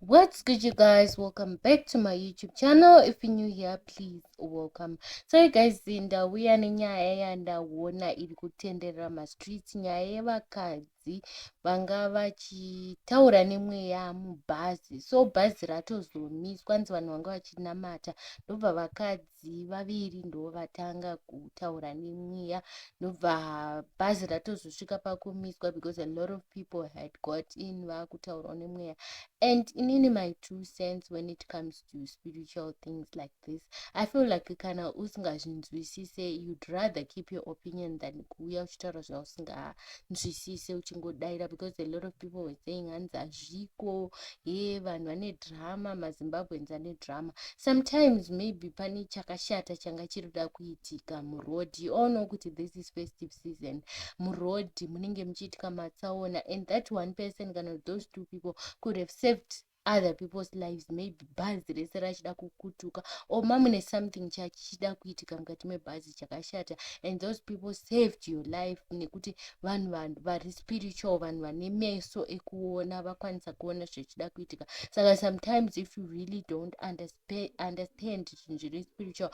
What's good you guys welcome back to my youtube channel if you're new here please welcome so you guys ndauya nenyaya yandaona iri kutenderera mastreets nyaya yevakadzi vanga vachitaura nemweya mubhazi so bhazi ratozomiswa nzi vanhu vanga vachinamata ndobva vakadzi vakadzi vaviri ndovatanga kutaura nemweya ndobva bhazi ratozosvika pakumiswa because a lot of people had got in vakutaurawo nemweya and inini my two sense when it comes to spiritual things like this i feel like kana usingazvinzwisise you'd rather keep your opinion than kuuya uchitaura zvausingaa usinganzwisise uchingodaira because a lot of people were saying hanzi hazviko hee vanhu vane drama mazimbabweans ane drama sometimes maybe pane chakashata changa chiri kuda kuitika muroad you all know kuti this is festive season muroad munenge muchiitika matsaona and that one person kana those two people could have saved other people's lives maybe bhazi rese rachida kukutuka or mamune something chachichida kuitika mukati mebhazi chakashata and those people saved your life nekuti vanhu vanhu vari spiritual vanhu vane meso ekuona vakwanisa kuona zvichida kuitika saka sometimes if you really don't understand zvinhu zviri spiritual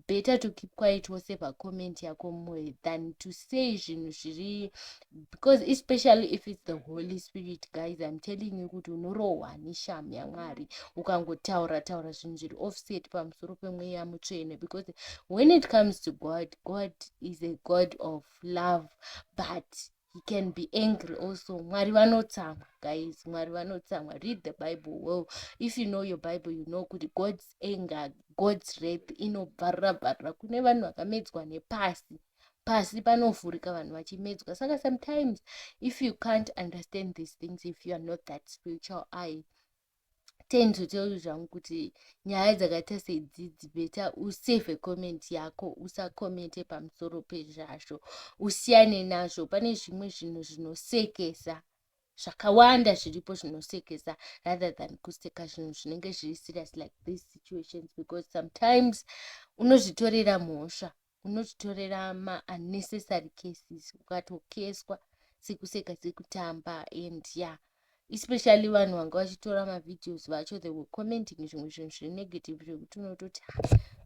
better to keep quiet wose pacomment yako mwoyo than to say zvinhu zviri because especially if it's the holy spirit guys im telling you kuti unorohwa neshamu yamwari ukangotaura taura zvinhu zviri offset pamusoro pemweya mutsvene because when it comes to god god is a god of love but he can be angry also mwari vanotsamwa guys mwari vanotsamwa read the bible well if you know your bible you know kuti god's anger god's rape inobvarira bvarira kune vanhu vakamedzwa nepasi pasi panovhurika vanhu vachimedzwa saka sometimes if you can't understand these things if you are not that spiritual i tend to tell you zvangu kuti nyaya dzakaita sedzidzi beta usave comment yako usakomente pamusoro pezvazvo usiyane nazvo pane zvimwe zvinhu zvinosekesa zvakawanda zviripo zvinosekesa rather than kuseka zvinhu zvinenge zviri serious like these situations because sometimes unozvitorera mhosva unotitorera ma unnecessary cases ukatokeswa sekuseka sekutamba and ya yeah. especially vanhu vanga vachitora mavideos vacho the were commenting zvimwe zvinhu zviri negative zvekuti unototi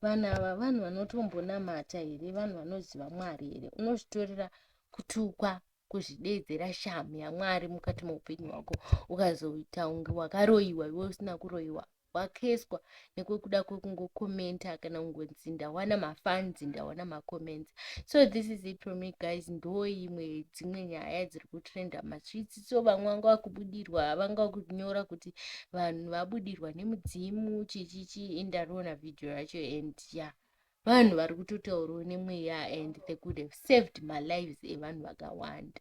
vanhu ava vanhu vanotombonamata here vanhu vanoziva mwari here unozvitorera kutukwa kuzvideedzera shamu yamwari mukati meupenyu hwako ukazoita unge wakaroyiwa iwe usina kuroyiwa wakeswa nekwekuda kwekungokomenta kana kungonzi ndawana mafans ndawana macomments so this is it for me guys ndo imwe dzimwe nyaya dziri kutrenda machitsi so vamwe vanga vakubudirwa vanga vakunyora kuti vanhu vabudirwa nemudzimu chichichi indarona vhidhiyo yacho and ya yeah vanhu vari kutotaurwa nemweya and they could have saved malives evanhu vakawanda